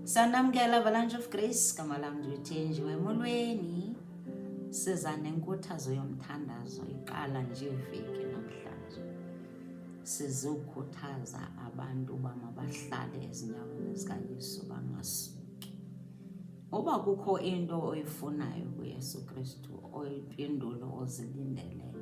sanamkela avalanche of grace gama lam ndiyuthenjiwe emolweni siza nenkuthazo yomthandazo iqala nje veki namhlanje sizokhuthaza abantu uba mabahlale ezinyaweni zikayesu bangasuki uba kukho into oyifunayo kuyesu kristu oyimpendulo ozilindeleyo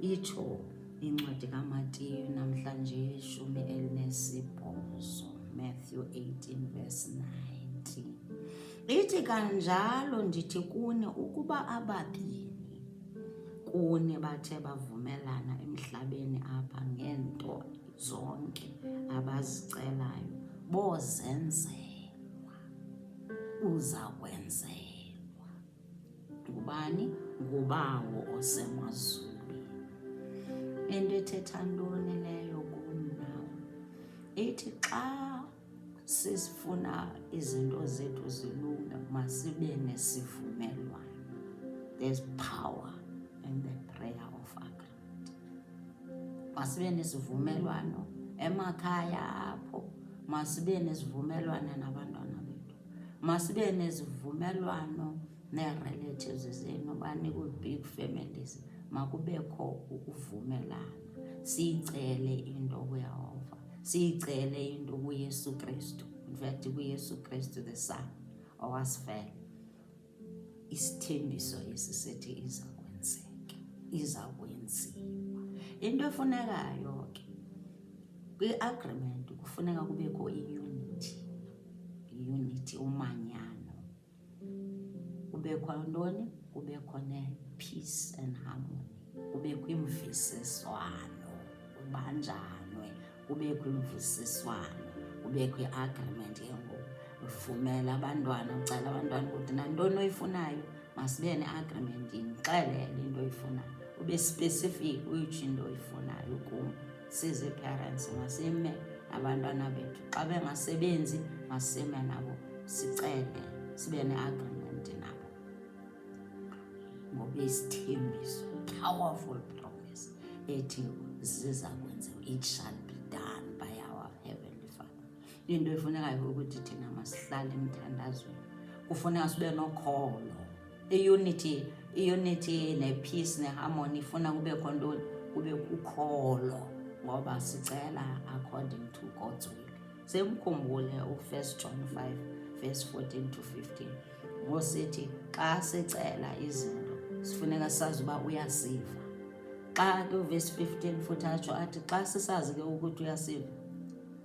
Itsho incwadi kaMatiyu namhlanje ishumi elinesibhozo, Matthew 18 verse 19. Ithi kanjalo ndithi kuni ukuba ababini kuni bathe bavumelana emhlabeni apha ngeento zonke abazicelayo bozenzelwa uza kwenzelwa ngubani? Ngubawo osemazulwini. Le nto ethetha ntoni leyo kum nam? Ithi xa sifuna izinto zethu zilunge masibe nesivumelwano. There's power in the prayer of agreement. masibe nesivumelwano emakhaya apho masibe nesivumelwano nabantwana bethu masibe nesivumelwano nee-relatives zenu banikwi-big families makubekho ukuvumelana siyicele into kuyehova siyicele into kuyesu kristu in fact kuyesu kristu the son owasifela isithembiso esi sithi iza kwenzeka iza kwenziwa into efunekayo ke kwi-agreement kufuneka kubekho iyunithi iyunithi umanyano kubekho ntoni kubekho ne-peace and harmony kubekho imvisiswano kubanjanwe kubekho imvisiswano kubekho i-agreement ke ngoku uvumela abantwana ucela abantwana ukuthi nantoni oyifunayo masibe ne-agreement ndixelele into oyifunayo ube specific uyitsho into oyifunayo kum sizi-parents masime abantwana bethu xa bengasebenzi masime nabo sicele sibe ne-agreement ngoba isithembiso powerful promise ethi ziza kwenziwa it shall be done by our heavenly father into efunekayo ukuthi thina masihlale emthandazweni kufuneka sibe nokholo iunity iunity nepeace neharmony ifuna kube kho ntoni kube kukholo ngoba sicela according to god's will Semkhumbule u-1 John 5 verse 14 to 15 ngosithi xa sicela izinto sifuneka sazi uba uyasiva xa ke uvesi 15 futhi atsho athi xa sisazi ke ukuthi uyasiva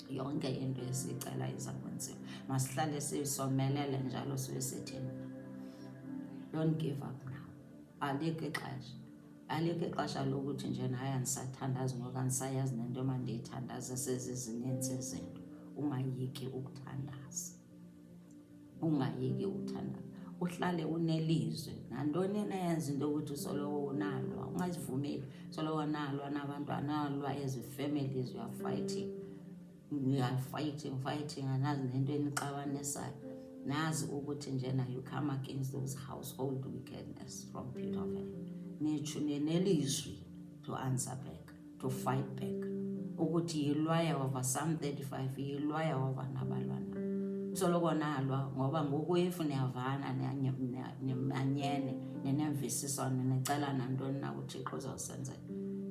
yonke into esiyicela iza kwenziwa masihlale sisomelele njalo sibe sithini don't give up now alikho ixesha alikho ixesha lokuthi nje naye andisathandazi ngoku andisayazi nento emandiyithandaze sezizininzi izinto ungayiki ukuthandaza ungayiki ukuthandaza uhlale unelizwe nantoni enayenza into yokuthi usoloko unalwa ungazivumeli soloko nalwa nabantwana nalwa ezi families uyafayithinga we are fighting fighting anazi nento enixabanisayo nazi ukuthi njena you come against those household wickedness from pit of hell nitsho nenelizwi to answer back to fight back ukuthi yilwaya over some 35 yilwaya over nabalwana soloko nalwa ngoba ngoku if niyavana nimanyene nenemvisiswano nicelana ntoni na uthixo uzawusenzela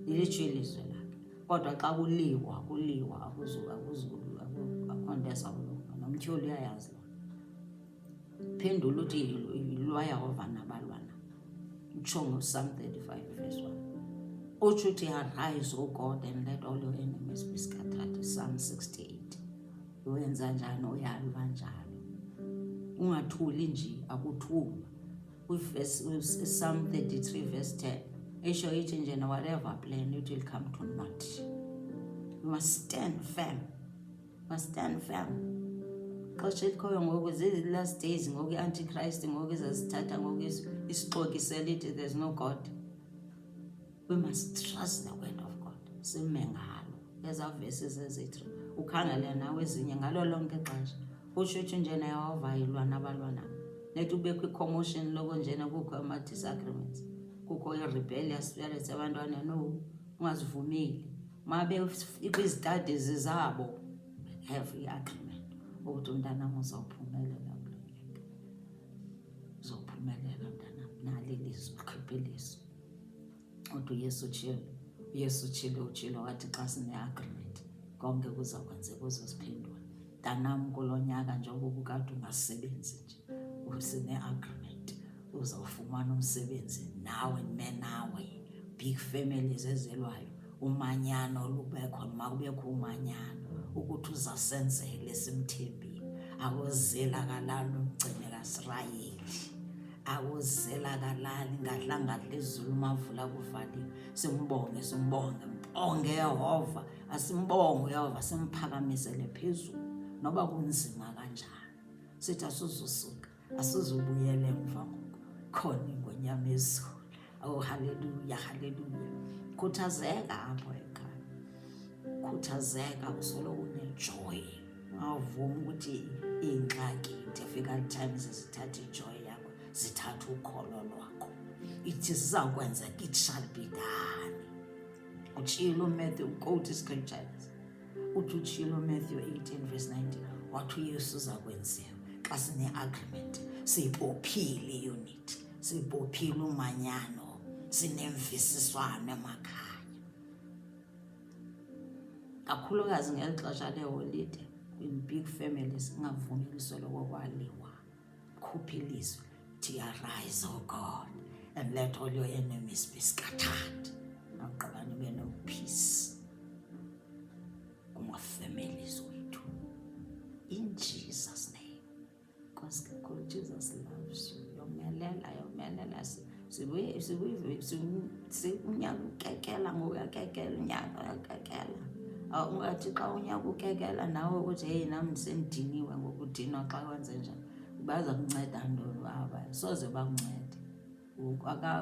ilitsho ilizwe Kodwa xa kuliwa kuliwa akuzulu akuzulu akho nto esawulunga nomtyholi uyayazi loo phendula uthi yilwaya ovana balwana utsho ngo-psalm 35 verse 1 utsho uthi arise o god and let all your enemies be scattered psalm 68 uwenza njani uyalwa njalo ungathuli nje akuthulwa Psalm 33 verse 10 esho ithi nje na whatever plan it will come to naught you must stand firm you must stand firm xesha elikhoyo ngoku zii-last days ngoku i-antichrist ngoku izazithatha ngoku isixokiselithi there's no god we must trust the word of god sime ngalo ezaa verses ezithi ukhangele nawe ezinye ngalo lonke ixesha ushushu njena yawavayilwa nabalwana nethi ubekho i-commotion loko njena kukho ama-disagreements kukho i-rebellious spirits abantwana no ungazivumeli ma bekwizitadies zabo have i-agreement ukuthi umntanam uzawuphumelela kulonyaka uzawuphumelela mntanam nalilizwi khiphe ilizwi Kodwa uYesu utshilo, uYesu utshilo, utshilo wathi xa sine-agreement konke kuza kwenzeka kuzo ziphendula. Mntanam kulo nyaka njengoba ubukade ungasebenzi nje usine-agreement uzawufumana umsebenzi nawe nime nawe big families ezelwayo umanyano olubekho noma kubekho umanyano ukuthi uzasenzele simthembile akuzela kalala umgcine kasirayeli awuzelakalali ngadlangadla izulu mavula kuvaliwe simbonge simbonge mbonge yehova asimbonge uyehova simphakamisele phezulu noba kunzima kanjani sithi asuzusuka asuzubuyele emva ngoku khona ingonyama ezulu Oh, haleluya, haleluya. Khuthazeka apho ekhaya, khuthazeka usolo unejoy, ungavumi ukuthi iingxaki difficult times zithathe ijoy yakho, zithathe ukholo lwakho. Ithi zizawukwenzeka, it shall be done. Utshilo uMatthew, quote iscriptures. Uthi utshilo uMatthew 18 verse 19, wathi uYesu uza kwenziwa xa sine-agreement siyibophile iyunit sibophile umanyano sinemvisiswano emakhaya kakhulukazi ngeli xesha leeholide kwi-big families ingavumi lisoloko kwaliwa khupha ilizwi tiarise o oh god and let all your enemies be scattered nagqiba nibe nopeace kuma-families wethu in jesus name unyaka ukekela ngoku uyakekela unyaka uyakekela ungathi xa unyaka ukekela nawe ukuthi heyi nam ndisendiniwe ngokudinwa xa kwenze njani baza kunceda ntoni baba soze bakuncede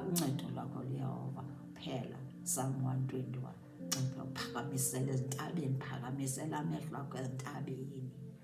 uncedo lwakho luyehova phela psalm 121 ncipha uphakamisele ezintabeni phakamisela amehlo akho ezintabeni